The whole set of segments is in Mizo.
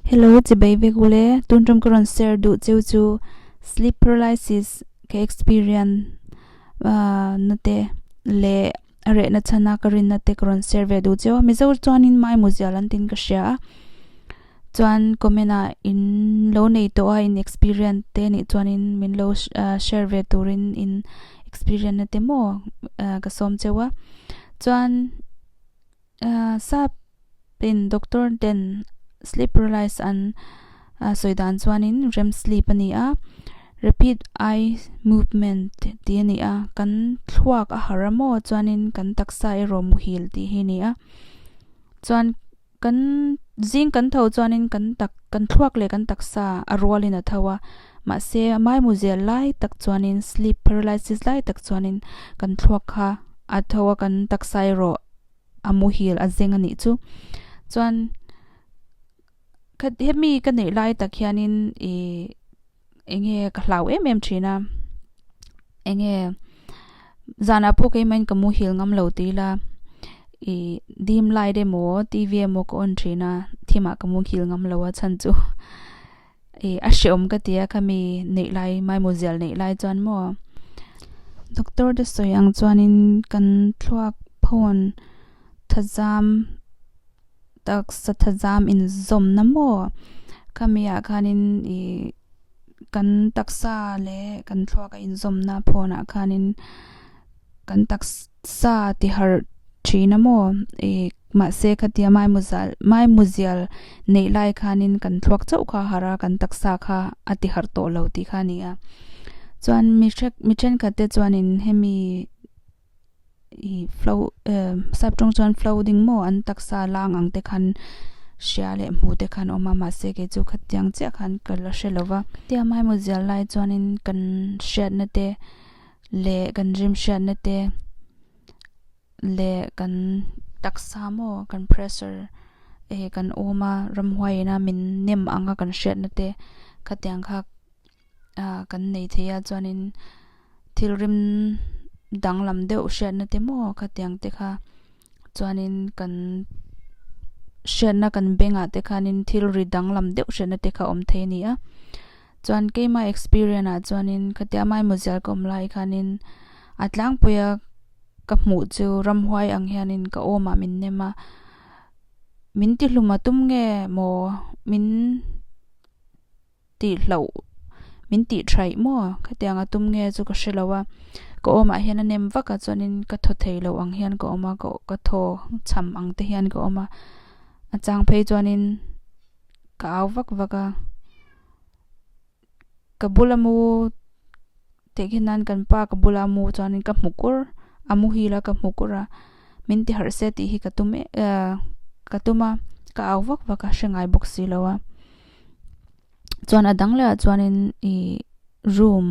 Hello, chibai vek ule, tun ṭawm ka rawn share duh cheu chu sleep paralysis ka experience na te leh a rehna chhana ka rinna te ka rawn share ve duh cheu a, mizo chuanin mai muzial an tin ka hria a, chuan comment ah in lo nei tawh a in experience te nih chuanin min lo share ve turin in experience na te maw ka sawm cheu a, chuan. Sap in Doctor ten sleep paralysis an sawi dan chuanin rem sleep a ni a, rapid eye movement tih a ni a, kan thluak a harh a maw chuanin kan taksa erawh muhil tih hi a ni a, chuan kan zing kan tho chuanin kan tak kan thluak leh kan taksa a rualin a tho a, mahse maimu zel lai tak chuanin sleep paralysis lai tak chuanin kan thluak kha a tho a kan taksa erawh-- a muhil a zeng a nih chu. Chuan hemi ka neih lai tak hianin i eng nge ka hlau em em thin a, eng nge zanah pawh keimahin ka muhil ngam lo tih ila, i dim light emaw TV emaw ka on thin a, thim ah ka muhil ngam lo a chhan chu. E, a hrehawm ka tia ka mi neih lai mai muzial neih lai chuan maw? Doctor te sawi ang chuanin kan thluak phone thazam taksa thazam inzawmna maw? Ka mi ah khanin i kan taksa leh kan thluak a inzawmna phone ah khanin kan taksa. Sa ti harh thin a maw i, mahse khatia mai muzal mai muzial neih lai khanin kan thluak chauh kha harh a, kan taksa kha a ti harh tawh lo tih kha a ni a. Chuan mi hre mi thenkhat te chuanin hemi i flo sap tawng chuan flo ding maw an taksa lang ang te khan hria leh hmuh te khan a awm a, mahse kei chu khatiang chiah khan ka la hre lo va. Khatia mai muzial lai chuanin kan hriatna te leh kan rimhriatna te leh kan taksa maw kan pressure e kan awm a ramhuai ina min nem ang a kan hriatna te khatiang kha ah kan nei thei a chuanin thilrim danglam deuh hriatna te maw khatiang te kha. Chuanin kan hriatna kan bengah te khanin thil ri danglam deuh hriatna te kha awm thei a ni a. Chuan keimah experience ah chuanin khatiang maimaw zial ka awm lai khanin a tlangpuia ka hmuh chu ramhuai ang hianin ka awmah min nem a, min tihluma tum nge maw min-- tih hlauh min tih thaih maw? Khatiang a tum nge chu ka hre lo a, ka awmah hian a nem vak a chuanin ka thaw thei loh ang hian ka awm a, ka ka thaw chham ang te hian ka awm a, a chang phei chuanin ka au vak vak a, ka bula mu Tehkhin nan kan pa ka bula mu chuan in ka hmu kur, a mu hi la ka hmu kur a, min ti harh se tih hi ka tum e ka tum a, ka au vak vak a, hre ngai bawk si lo a. Chuan a dang leh ah chuan in ih room,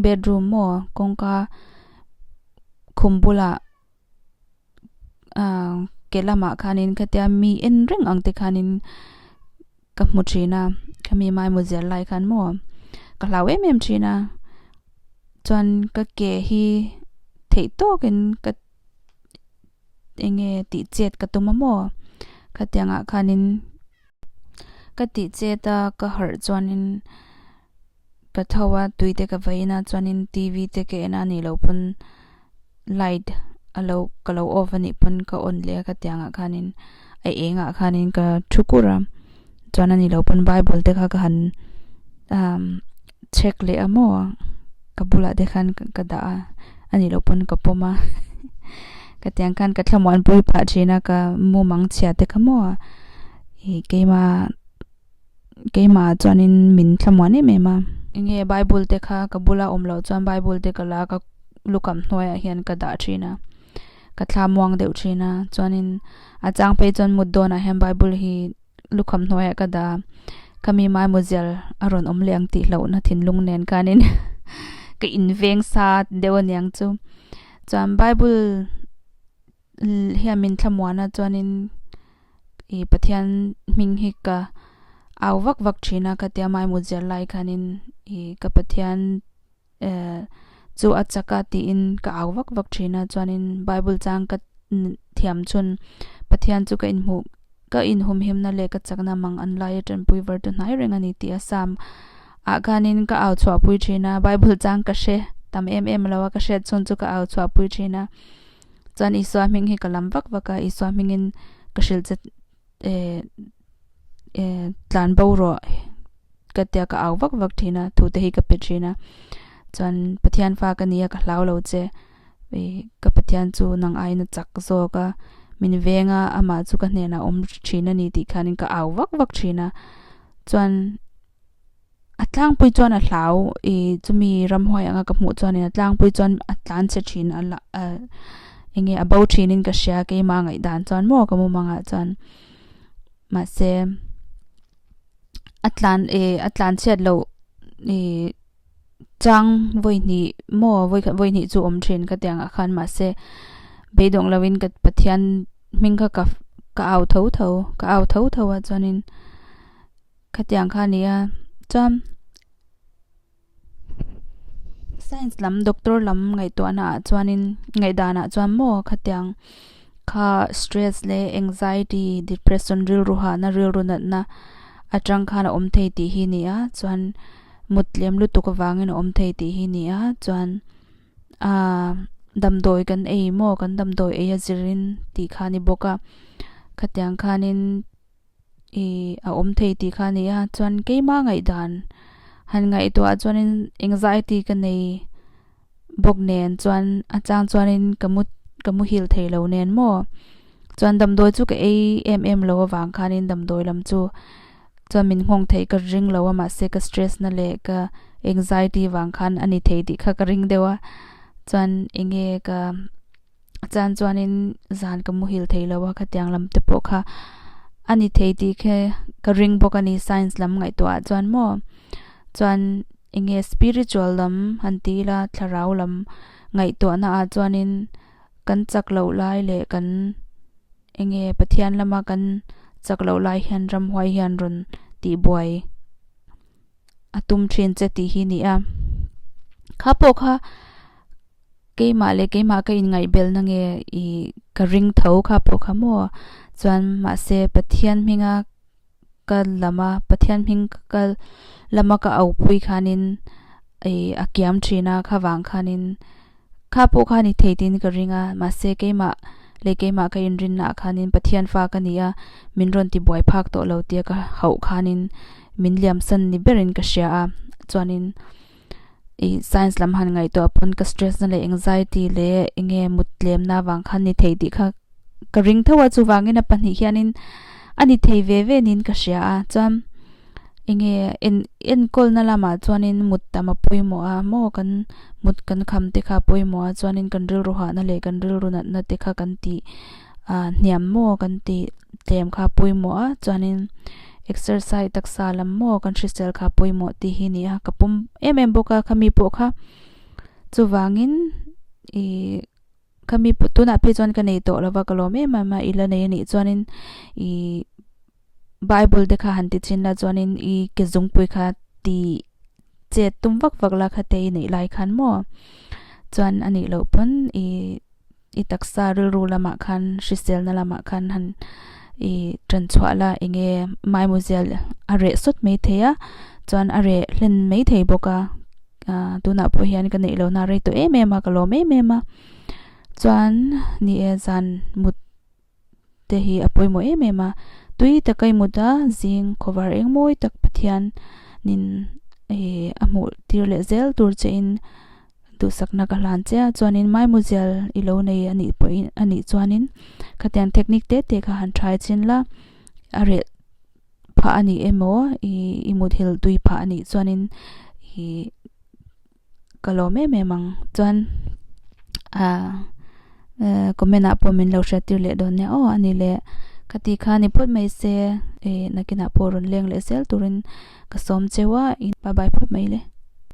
bedroom maw kawngka khum bulah, ke lamah khanin khatia mi en reng ang te khanin ka hmu thin a khami mai mu zel lai khan maw ka hlau em em thin a chuan ka ke hi theih tawk in ka enge tih chet ka tum a maw khatiang ah khanin. Ka tih chet a, ka harh chuanin ka tho a, tui te ka vai in a chuanin TV te ka en a nih loh pawn light a lo ka lo off anih pawn ka on leh a ka tiang ah khanin a eng ah khanin ka thu kur a chuan ani lo pawn bible te kha ka han umm-- chhek leh a maw ang ka bulah te khan ka dah a a nih loh pawn ka pawm a ka tiang khan ka thlamuan pui phah thin a ka mumang chhia te ka maw a ih keima keimah chuanin min thlamuan em em a eng nge bible te kha ka bula awm loh chuan bible te ka la ka lukham hnuaiah hian ka dah thin a ka thla muang deuh thin a chuanin a chang phei chuan mut dawnah hian bible hi lukham hnuaiah ka da ka mi mai maw zial a rawn awm leh ang tih hlohna thinlung nen khanin ka inveng sa deuh a niang chu chuan bible hian min thla muana chuanin ih pathian hming hi ka au vak vak thina ka tia mai maw zial lai khanin ih ka pathian-- chu a chak a tiin ka au vak vak thin a. Chuanin Bible chang ka thiam chhun Pathian chu ka inhmuh, ka inhumhimna leh ka chakna mang an laia tanpui var tu hnai reng a ni tih a sam. Ah khanin ka au chhuahpui thin a, Bible chang ka hre tam em em lo a, ka hriat chhun chu ka au chhuahpui thin a. Chuan Isua hming hi ka lam vak vak a, Isua hmingin ka hrilh che. eh eh tlan bo rawh ka tia ka au vak vak thin a thu te hi ka pe thin a chuan pathian fa ka nia ka hlau lo che i ka pathian chu nang aiin a chak zawk a min veng a amah chu ka hnenah awm thin a ni tih khan in ka au vak vak thin a chuan a tlangpui chuan a hlau i chumi ramhuai anga ka hmuh chuan in a tlangpui chuan a tlan chhe thin a la ah eng nge a bo thin in ka hria keimah a ngaihdan chuan maw ka mawm angah chuan mahse a tlan e a tlan chhiat loh e chang vawi hnih maw vawi khat vawi hnih chu awm thin ka tih angah khan mahse beidawng lo in ka pathian hming kha ka ka au tho tho ka au tho tho a chuan in Khatiang kha ni a, chuan Science lam doctor lam ngaihtuahna ah chuanin ngaihdan ah chuan maw khatiang kha stress leh anxiety depression rilru hahna rilru natna atang khan a awm thei tih hi ni a, chuan muttlem lutuk avangin a awm thei tih hi ni a, chuan aa damdawi kan ei maw kan damdawi ei a zirin tih kha a ni bawk a, khatiang khanin. i a awm thei tih kha a ni a, chuan keima ngaihdan han ngaihtuah chuanin engzah e tih ka nei bawk nen chuan a chang chuanin ka mu ka muhil thei lo nen maw. Chuan damdawi chu ka ei em em lo avang khanin damdawi lam chu chuan min nghawng theih ka ring lo a mahse ka stress na leh ka anxiety vang khan a ni thei tih kha ka ring deuh a, chuan enge ka. chan chuanin zan ka muhil theilo a khatiang lam te pawh kha ani thei tih khe ka ring bawk ani science lam ngaihtuah ah chuan maw chuan enge spiritual lam han ti ila thlarau lam ngaihtuah na ah chuanin kan chak loh lai leh kan enge pathian lama kan chak loh lai hian ram huai hian rawn tihbuai a tum thin che tih hi ni a kha pawh kha Keimah leh keimah ka inngaihbelhna nge i ka ring tho kha pawh kha maw? Chuan mahse Pathian hminga ka lama Pathian hming ka lama ka aupui khanin i a kiam thin a, khâwang khanin kha pawh kha ni thei tiin ka ring a, mahse keimah leh keimah ka inrinah khanin Pathian fa ka ni a, min rawn ti buai phak tawh lo tia ka hauh khanin min liamsan ni berin ka hria a. Chuanin i science lam han ngaihtuah pawn ka stress na leh anxiety leh enge mutlemna vang khan ni thei tih kha ka ring tho a chuvangin a pahnih hianin a ni thei ve ve niin ka hria a chuan enge en enkawlna lamah chuanin mut tam a pawimawh a maw kan mut kan kham te kha a pawimawh a chuanin kan rilru hahna leh kan rilru natna te kha kan tih-- ah hniam maw kan tih tlem kha pawimawh a chuanin exercise taksa lam maw kan hrisel kha pawimawh tih hi ni a ka pawm em em bawk a khami pawh kha chuvangin ih khami tunah phi chuan ka nei tawh lova ka lawm em em a ila nei anih chuanin ih-- Bible te kha han ti chin la chuanin i ke zungpui kha ti chet tum vak vak la kha te i neih lai khan maw chuan a nih loh pawn i i taksa rilru lamah khan hriselna lamah khan han i tan chhuah la enge maimu zia a reh sawt mai thei a chuan a reh hlen mai thei bawk a aa tunah pawh hian ka neih lohna a rei tawh em em a ka lawm em em a chuan ni e zan mut te hi a pawimawh em em a, tui tak a imut a, zing khawvar eng mawi tak Pathian in ih a hmuh tir leh zel tur che in duhsakna ka hlan che a, chuanin mai muzel i lo nei a nih pawh in a nih chuanin khatiang technique te te kha han tha i chin la, a reh phah a nih emaw ih i muthil tui phah a nih chuanin ih. ka lawm em em ang chuan comment ah pawh min lo hriattir leh dawn nia aw ani le ka ti kha ni phawt mai se e nakinah pawh rawn leng leh zel turin ka sawm cheu a bye bye phawt mai le.